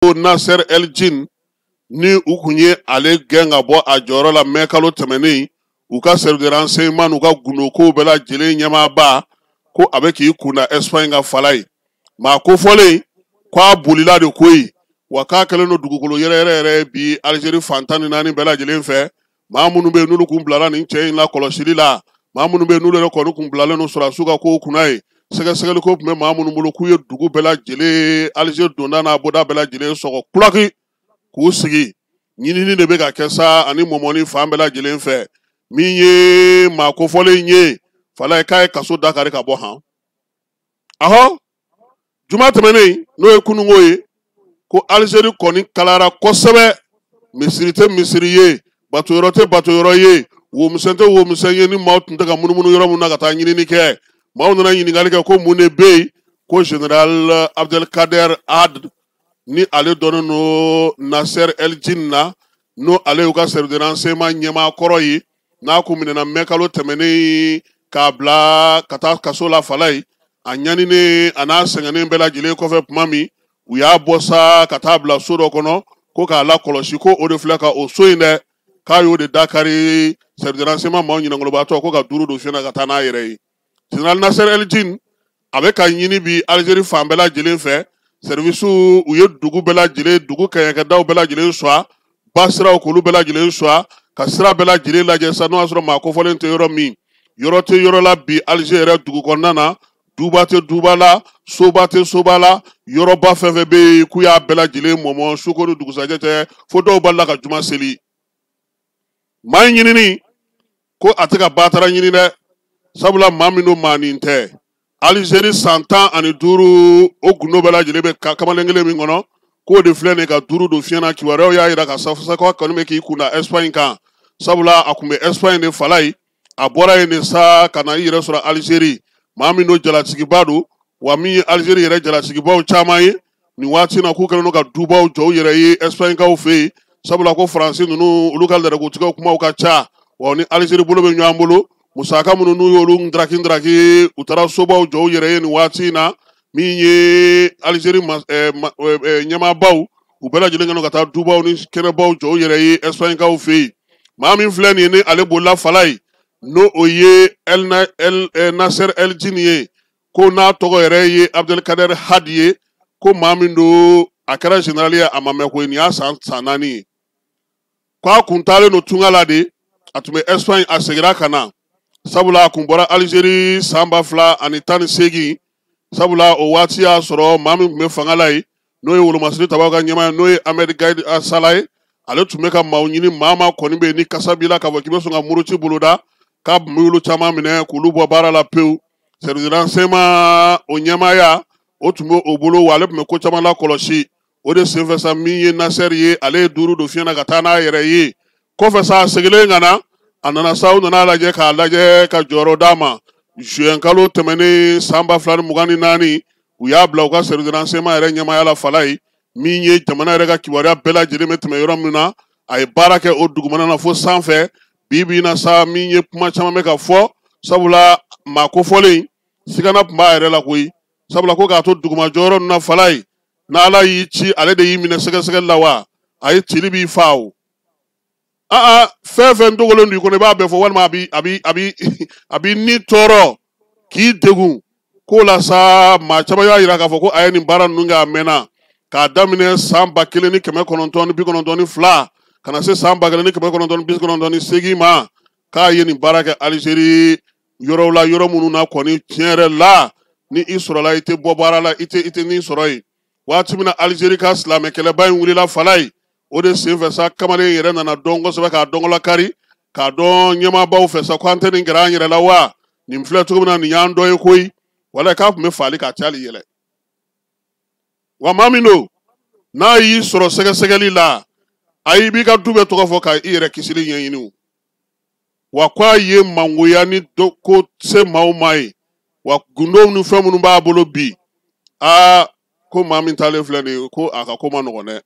ko Nasser El Jin ni u kun ye ale gɛn ka bɔ a jɔyɔrɔ la mɛ kalo tɛmɛnen u ka service de renseignement n'u ka gundokow bɛɛ lajɛlen ɲɛmaaba ko a bɛ k'i kun da Espagne kan fala ye maa kofɔlen k'a bolila de koyi wa k'a kɛlen don dugukolo yɛrɛ yɛrɛ yɛrɛ bi Algérie fan tan ni naani bɛɛ lajɛlen fɛ maa minnu bɛ yen n'olu kun bilala nin cɛ in la kɔlɔsili la maa minnu bɛ yen n'olu yɛrɛ kɔni kun bilalen don sɔrɔdasiw ka kow kunna ye sɛgɛsɛgɛli ko tun bɛ maa minnu bolo k'u ye dugu bɛɛ lajɛlen Alger donda n'a bɔda bɛɛ lajɛlen sɔgɔ kulaki k'u sigi ɲinini de bɛ ka kɛ sa ani mɔmɔni fan bɛɛ lajɛlen fɛ min ye maa kofɔlen ye fala ye k'a ye kaso dakari ka bɔ han ahɔ juma tɛmɛnen n'o ye kununko ye ko alizeri kɔni kalayara kosɛbɛ misiri tɛ misiri ye batoyɔrɔ tɛ batoyɔrɔ ye womisɛn tɛ womisɛn ye ni maaw tun tɛ ka munumunu yɔrɔ min na ka taa ɲinini kɛ maaw nana ɲininkali kɛ ko mun de bɛ yen ko general abdelkader had ni ale dɔnnen don nasser eljin na n'o ale y'u ka service de renseignement ɲɛmaa kɔrɔ ye n'a kun minɛna mɛ kalo tɛmɛnen k'a bila ka taa kaso la fala ye a ɲaninen a n'a sɛgɛnnen bɛɛ lajɛlen kɔfɛ tuma min u y'a bɔ sa ka taa bila so dɔ kɔnɔ ko k'a lakɔlɔsi ko o de filɛ ka o so in dɛ k'a y'o de dakari service de renseignement maaw ɲinɛnkolobaatɔ ko ka duuru don fiɲɛ na ka taa n'a yɛrɛ ye General Nasser El Djin a bɛ ka ɲini bi Algérie fan bɛɛ lajɛlen fɛ service u ye dugu bɛɛ lajɛlen dugu kɛɲɛkɛdaw bɛɛ lajɛlen suwa ba siraw k'olu bɛɛ lajɛlen suwa ka sira bɛɛ lajɛlen lajɛ sa n'o y'a sɔrɔ maa kofɔlen tɛ yɔrɔ min yɔrɔ tɛ yɔrɔ la bi Alger yɛrɛ dugu kɔnɔna na duba tɛ duba la soba tɛ soba la yɔrɔba fɛn fɛn bɛ yen k'u y'a bɛɛ lajɛlen mɔmɔ suko ni dugusajɛ tɛ fo dɔw b'a la ka juma seli maa in ɲinini ko a tɛ ka batara ɲini dɛ sabula maa min don maa nin tɛ alizeri san tan ani duuru o gundo bɛɛ lajɛlen bɛ kamalen kelen min kɔnɔ k'o de filɛ nin ka duuru don fiɲɛ na kibaruyaw y'a jira ka safosakɔ kɔni bɛ k'i kun da ɛsipaɲi kan sabula a kun bɛ ɛsipaɲi de fala ye a bɔra yen de sa ka na i yɛrɛ sɔrɔ alizeri maa min don jalatigiba don wa min ye alizeri yɛrɛ jalatigibaw caman ye nin waati na k'u kɛlen don ka dubaw jɔ u yɛrɛ ye ɛsipaɲikaw fɛ yen sabula ko faransi ninnu olu ka lɛrɛkotigiw kumaw ka ca wa ni alizeri bolo bɛ ɲɔgɔn bolo musaka minnu n'u y'olu ndaraki ndaraki u taara sobaw jɔ u yɛrɛ ye nin waati in na min ye alizeri eh, eh, eh, ɲɛmaabaw u bɛɛ lajɛlen kɛlen ka taa dubaw ni kɛnɛbaw jɔ u yɛrɛ ye ɛsipaɲikaw fɛ yen maa min filɛ nin ye ni ale bolila fala ye n'o o ye El Na- El- eh, Nasser El Jin ye ko n'a tɔgɔ yɛrɛ ye Abdelkader Had ye ko maa min don a kɛra general ye a ma mɛn koyi nin y'a san naani ye ko a kun taalen don tunga la de a tun bɛ Espagne a seginna ka na sabula a kun bɔra Algérie san ba fila ani tan ni seegin sabula o waati y'a sɔrɔ maa min tun bɛ fanga la ye n'o ye wolomasiri tabaw ka ɲɛmaa ye n'o ye ahmed gaïd salah ye ale tun bɛ ka maaw ɲini maa maa kɔni bɛ yen ni kasa b'i la k'a fɔ k'i bɛ sɔn ka muruti boloda k'a tun bɛ olu caman minɛ k'olu bɔ baara la pewu service de renseignement o ɲɛmaaya o tun bɛ o bolo wa ale tun bɛ ko caman lakɔlɔsi o de senfɛ sa min ye nasɛri ye ale ye duuru don fiɲɛ na ka taa n'a yɛrɛ ye kɔfɛ sa a segilen ka na a nana sa u nana a lajɛ k'a lajɛ ka jɔyɔrɔ d'a ma zuwɛnkalo tɛmɛnen san ba fila ni mugan ni naani u y'a bila u ka service de renseignement yɛrɛ ɲɛmaaya la fala ye min ye jamana yɛrɛ ka kibaruya bɛɛ lajɛlen bɛ tɛmɛ yɔrɔ min na a ye baara kɛ o dugumana na fo sanfɛ bi bi na sa min ye kuma caman bɛ ka fɔ sabula maa kofɔlen sigana tun b'a yɛrɛ la koyi sabula ko k'a to duguma jɔyɔrɔ ninnu na fala ye n'ala y'i ci ale de y'i minɛ sɛgɛsɛgɛli la wa a ye cili b'i fa o aa fɛn fɛn dogolen don i kɔnɔ i b'a bɛɛ fɔ walima a b'i ni tɔɔrɔ k'i degun k'o la sa maa caman y'a yira k'a fɔ ko a ye nin baara ninnu kɛ a mɛnna k'a daminɛ san ba kelen ni kɛmɛ kɔnɔntɔn ni bi kɔnɔntɔn ni fila ka na se san ba kelen ni kɛmɛ kɔnɔntɔn ni bi kɔnɔntɔn ni seegin ma k'a ye nin baara kɛ alizeri yɔrɔw la yɔrɔ minnu na kɔni tiɲɛ yɛrɛ la ni i sɔrɔla i tɛ bɔ baara la i tɛ nin sɔrɔ yen waati min na alizeri ka silamɛ kɛlɛba in wulila fala ye o de senfɛ sa kamalen yɛrɛ nana dɔn kosɛbɛ k'a dɔn gala kari k'a dɔn ɲɛmaabaw fɛ sa ko an tɛ nin gɛrɛ an yɛrɛ la wa nin filɛ cogo min na nin y'an dɔ ye koyi wala k'a tun bɛ faali ka cali yɛlɛ wa maa min don n'a y'i sɔrɔ sɛgɛsɛgɛli la aa i b'i ka du bɛɛ tɔgɔ fɔ ka i yɛrɛ kisili ɲɛɲini wa ko a ye mangoya ni ko se maaw ma yen wa gundow ni fɛn minnu b'a bolo bi aa ko maa min taalen filɛ nin ye ko a ka ko man nɔgɔn dɛ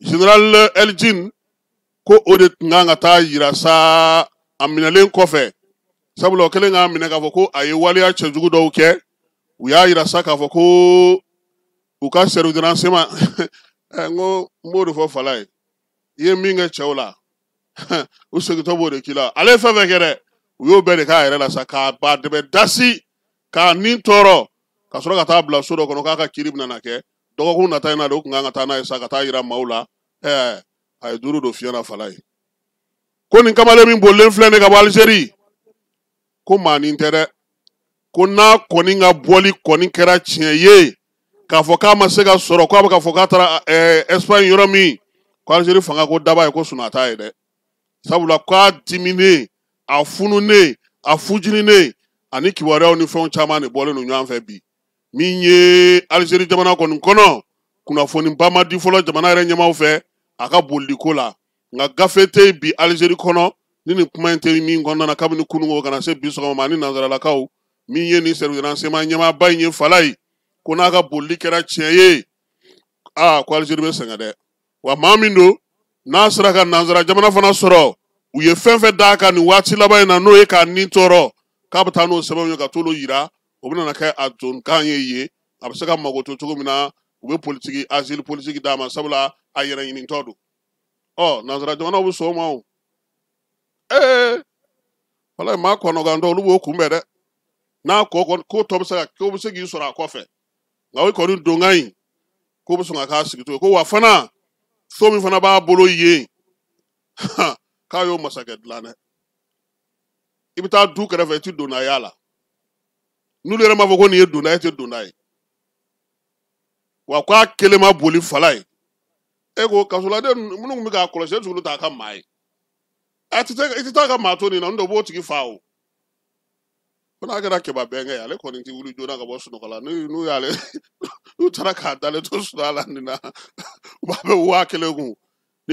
général el djinn ko o de tun kan ka taa yira sa a minɛlen kɔfɛ sabula o kɛlen k'a minɛ k'a fɔ ko a ye waleya cɛjugu dɔw kɛ u y'a yira sa k'a fɔ ko u ka service de renseignement n ko n b'o de fɔ fala ye i ye min kɛ cɛw la u segintɔ b'o de k'i la ale ye fɛn fɛn kɛ dɛ u y'o bɛɛ de k'a yɛrɛ la sa k'a ba dɛbɛ dasi k'a ni tɔɔrɔ ka sɔrɔ ka taa bila so dɔ kɔnɔ k'a ka kiri bɛna na kɛ dɔgɔkun nata in na de u tun kan ka taa n'a ye sa ka taa yira maaw la ɛɛ a ye duuru don fiɲɛ na fala ye ko nin kamalen min bolilen filɛ nin ka bɔ alizeri ko maanin tɛ dɛ ko n'a kɔni ka boli kɔni kɛra tiɲɛ ye k'a fɔ k'a ma se ka sɔrɔ k'a bɛ k'a fɔ k'a taara ɛsipaɲi yɔrɔ min ko alizeri fanga ko daba ye ko sunaa t'a ɲɛ dɛ sabula k'a diminen a fununen a fujininen ani kibaruyaw ni fɛnw caman de bɔlen don ɲɔgɔn fɛ bi min ye alizeri jamana kɔni kɔnɔ kunnafoniba ma di fɔlɔ jamana yɛrɛ ɲɛmaaw fɛ a ka boliliko la nka gafe tɛ yen bi alizeri kɔnɔ ni nin kuma in tɛ min kɔnɔna na kabini kunun ka na se bi sɔgɔma ma ani nanzaralakaw min ye nin sɛriwisi ransɛɲɛman ɲɛmaaba in ye falaye ko n'a ka bolili kɛra tiɲɛ ye aa ko alizeri bɛ sɛgɛn dɛ wa maa min don n'a sera ka nanzara jamana fana sɔrɔ u ye fɛn fɛn d'a kan nin waati laban in na n'o ye k'a ni tɔɔrɔ k'a bɛ taa n'o sɛbɛnw ye ka t'olu yira o bɛna kɛ a donkan ye yen a bɛ se ka mago to cogo min na u bɛ politiki azili politiki d'a ma sabula a yɛrɛ ɲinitɔ don ɔ nanzara jamanaw bɛ sɔn o ma o ee wala maa kɔnɔgantɔ olu b'o kunbɛn dɛ n'a kɔ kɔni ko tɔ bɛ se ka ko bɛ se k'i sɔrɔ a kɔfɛ nka o kɔni donkan in ko bɛ sɔn ka k'a sigi to ko wa fana so min fana b'a bolo yen k'a y'o masakɛ dilan dɛ i bɛ taa du kɛrɛfɛ i tɛ donna y'a la n'olu yɛrɛ m'a fɔ ko nin ye donna ye i tɛ donna ye wa ko a kelen ma boli falaye e ko kaso la de minnu tun bɛ k'a kɔlɔsi olu t'a ka maa ye a tɛ i tɛ taa ka maa to ni na n dɔ b'o tigi fa o ko n'a kɛra kɛba bɛnkɛ ye ale kɔni tɛ wuli joona ka bɔ sunɔgɔ la n'u y'ale n'u taara k'a dalen to sunɔgɔ la nin na u b'a bɛ waa kelen kun